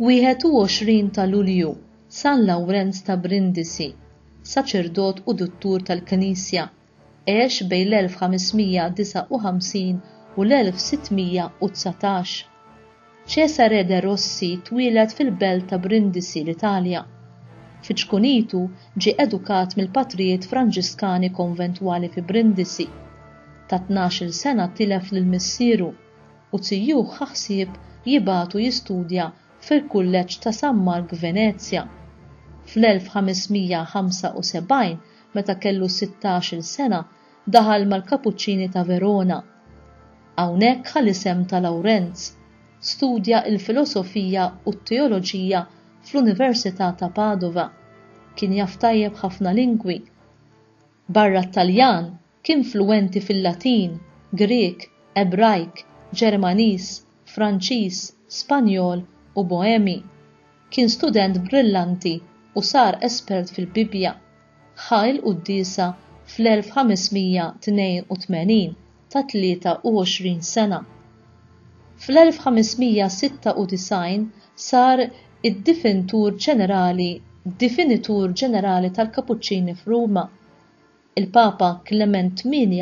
21 ta' Lulju, San Lawrenz ta' Brindisi, saċerdot u duttur tal-Knisja, għex bejn l-1559 u l-1619. Cesare de' Rossi twieled fil-belt ta' Brindisi, l-Italja. Fi ċkunitu ġie edukat mill-patrijiet Franġiskani konventwali fi Brindisi. Ta' tnax-il sena tilef lil missieru, u zijuh ħa ħsieb jibagħtu jistudja fil-Kulleġġ ta' San Mark f'Venezja. Fl-1575 Meta kellu sittax-il sena daħal mal-Kapuċċini ta' Verona. Hawnhekk ħa l-isem ta' Lawrenz. Studja l-filosofija u t-teoloġija fl-Università ta' Padova. Kien jaf tajjeb ħafna lingwi. Barra t-Taljan, Kien fluwenti fil-Latin, Grieg, Ebrajk, Ġermaniż, Franċiż, Spanjol u Boemi. Kien student brillanti u sar espert fil-Bibbja. Ħa il-quddiesa fl-1582 ta' 23 sena. Fl-1596 sar id-Difinitur Ġenerali Difinitur Ġenerali tal-Kapuċċini f'Ruma. Il-Papa Klement ii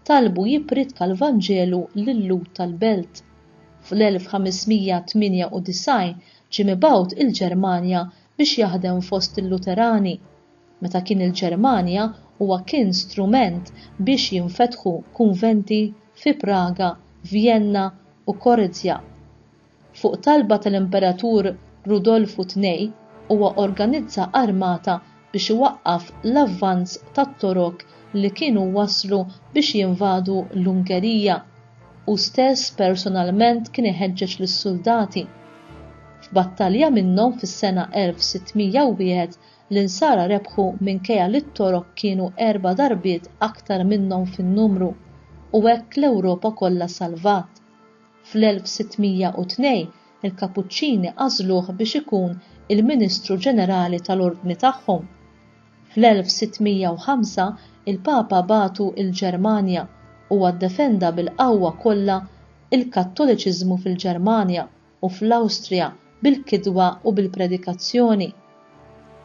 talbu jippritka l-Vanġelu lil-Lhud tal-belt. Fl-1598 ġie mibgħut il-Ġermanja biex jaħdem fost il-Luterani. Meta kien il-Ġermanja huwa kien strument biex jinfetħu kunventi fi Praga, Vjenna u Korzja. Fuq talba tal-Imperatur Rudolfu ii, huwa organizza armata biex iwaqqaf l-avvanz tat-Torok li kienu waslu biex jinvadu l-Ungerija. Hu stess personalment kien iħeġġeġ lis-suldati. F'battalja minnhom fis-sena 1601, l-Insara rebħu minkejja li t-Torok kienu erba' darbiet aktar minnhom fin-numru, u hekk l-Ewropa kollha salvat. Fl-1602, il-Kapuċċini għażluh biex ikun il-Ministru Ġenerali tal-Ordni tagħhom. Fl-1605, il-Papa bagħtu l-Ġermanja. Huwa ddefenda bil-qawwa kollha l-Kattoliċiżmu fil-Ġermanja u fl-Awstrija bil-kitba u bil-predikazzjoni.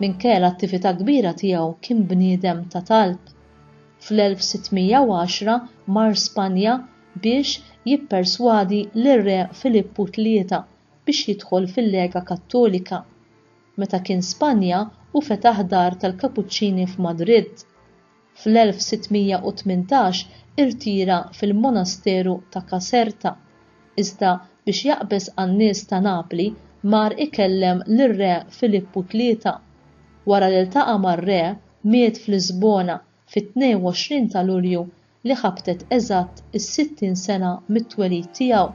Minkejja l-attività kbira tiegħu kien bniedem ta' talb. Fl-1610, mar Spanja biex jipperswadi lir-Re Filippu Tlieta biex jidħol fil-Lega Kattolika. Meta kien Spanja hu fetaħ dar tal-Kapuċċini f'Madrid. Fl-1618 irtira fil-monasteru ta' Caserta, iżda biex jaqbeż għan-nies ta' Napli mar ikellem lir-Re Filippu Tlieta. Wara li ltaqa' mar-Re miet f'Lisbona fit-22 ta' Lulju li ħabtet eżatt is-60 sena mit-twelid tiegħu.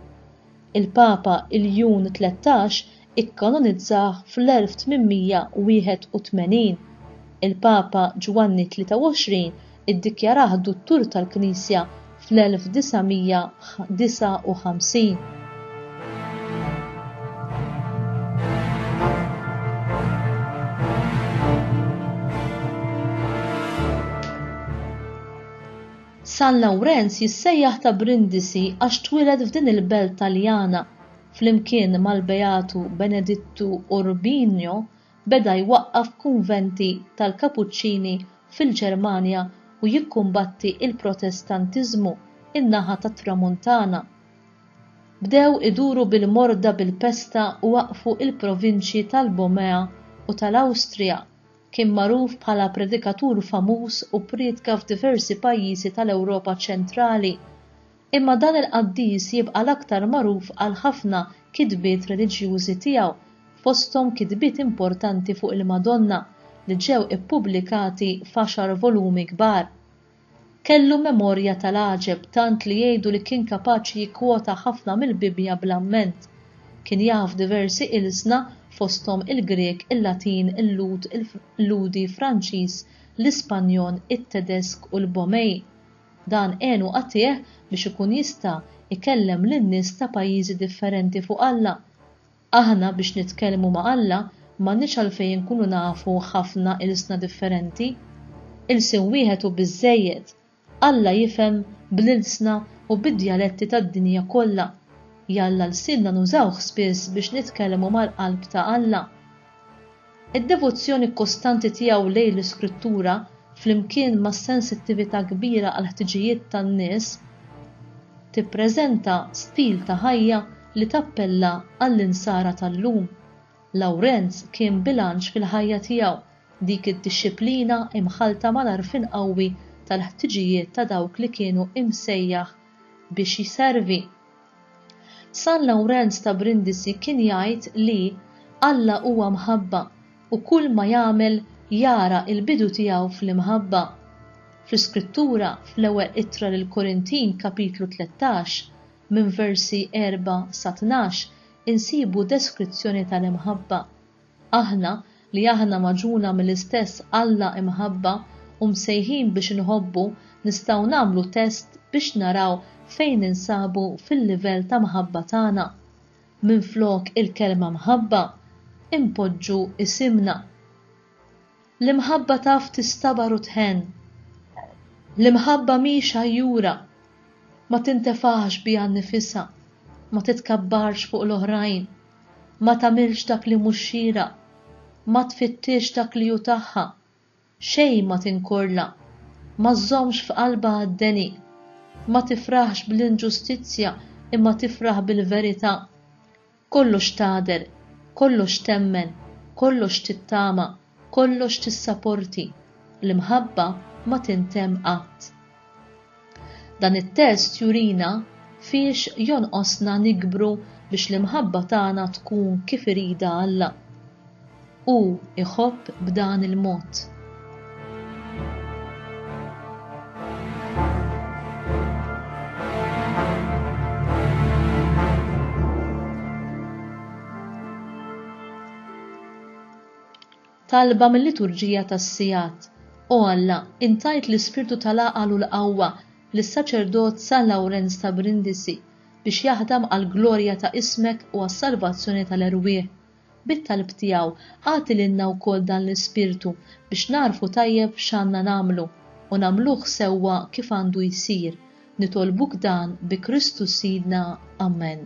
Il-Papa Iljun Tlettax ikkanonizzah fl-1881. Il-Papa Ġwanni Tlieta Wgħoxrin iddikjarah Duttur tal-Knisja fl-1959. San Lawrenz jissejjaħ ta' Brindisi għax twieled f'din il-belt Taljana. Flimkien mal-Beatu Benedittu Urbino beda jwaqqaf kunventi tal-Kapuċċini fil-Ġermanja u jikkumbatti l-Protestantiżmu n-naħa tat-Tramuntana. Bdew iduru bil-morda bil-pesta u waqqfu l-provinċji tal-Bomea u tal-Awstrija. Kien magħruf bħala predikatur famuż u priedka f'diversi pajjiżi tal-Ewropa ċentrali. Imma dan il-qaddis jibqa' l-aktar magħruf għall-ħafna kitbiet reliġjużi tiegħu, fosthom kitbiet importanti fuq il-Madonna, li ġew ippubblikati f'għaxar volumi kbar. Kellu memorja tal-għaġeb tant li jgħidu li kien kapaċi jikkwota ħafna mill-Bibbja bl-amment. Kien jaf diversi ilsna fosthom il-Grieg, il-Latin, il-Lhud, il-Lhudi, Franċiż, l-Ispanjol, it-Tedesk u l-Bomey. Dan għenu agħtih biex ikun jista' jkellem lin-nies ta' pajjiżi differenti fuq Alla. Aħna biex nitkellmu ma' Alla m'għandniex għalfejn inkunu nafu ħafna ilsna differenti. Ilsien wieħed hu biżżejjed. Alla jifhem bl-ilsna u bid-djaletti tad-dinja kollha. Jalla lsienna nużawh spiss biex nitkellmu mal-qalb ta' Alla. Id-devozzjoni kostanti tiegħu lejn l-Iskrittura, flimkien ma' sensittività kbira għall-ħtiġijiet tan-nies, tippreżenta stil ta' ħajja li tappella għall-Insara tal-lum. Lawrenz kien bilanċ fil-ħajja tiegħu, dik id-dixxiplina imħallta mal-għarfien qawwi tal-ħtiġijiet ta' dawk li kienu imsejjaħ biex jservi. San Lawrenz ta' Brindisi kien jgħid li, Alla huwa mħabba u kull ma jagħmel jara l-bidu tiegħu fl-imħabba. Fl-Iskrittura, fl-Ewwel Ittra lill-Korintin kapitlu tlettax, minn versi erbgħa sa tnax, insibu deskrizzjoni tal-imħabba. Aħna, li aħna magħġuna mill-istess Alla Imħabba u msejħin biex inħobbu, nistgħu nagħmlu test biex naraw fejn ninsabu fil-livell ta' mħabba tagħna. Minflok il-kelma mħabba, inpoġġu isimna. L-imħabba taf tistabar u tħenn. L-imħabba mhix għajjura, ma tintefaħx biha nnifisha, ma titkabbarx fuq l-oħrajn, ma tagħmilx dak li mhux xieraq, ma tfittixx dak li hu tagħha, xejn ma tinkorla, ma żżommx f'qalbha għad-deni, ma tifraħx bl-inġustizzja imma tifraħ bil-verità. Kollox tagħder, kollox temmen, kollox tittama, kollox tissaporti, l-imħabba ma tintemm qatt. Dan it-test jurina fiex jonqosna nikbru biex l-imħabba tagħna tkun kif iridha Alla. Hu jħobb b'dan il-mod. talba mill-liturġija tas-sigħat. O Alla, intajt l-ispirtu tal-għaqal u l-qawwa lis-saċerdot San Lawrenz ta' Brindisi biex jaħdem għall-glorja ta' ismek u għas-salvazzjoni tal-erwieħ. Bit-talb tiegħu, agħti lilna wkoll dan l-ispirtu biex nagħrfu tajjeb x'għandna nagħmlu, u nagħmluh sewwa kif għandu jsir. Nitolbuk dan bi Kristu Sidna. Amen.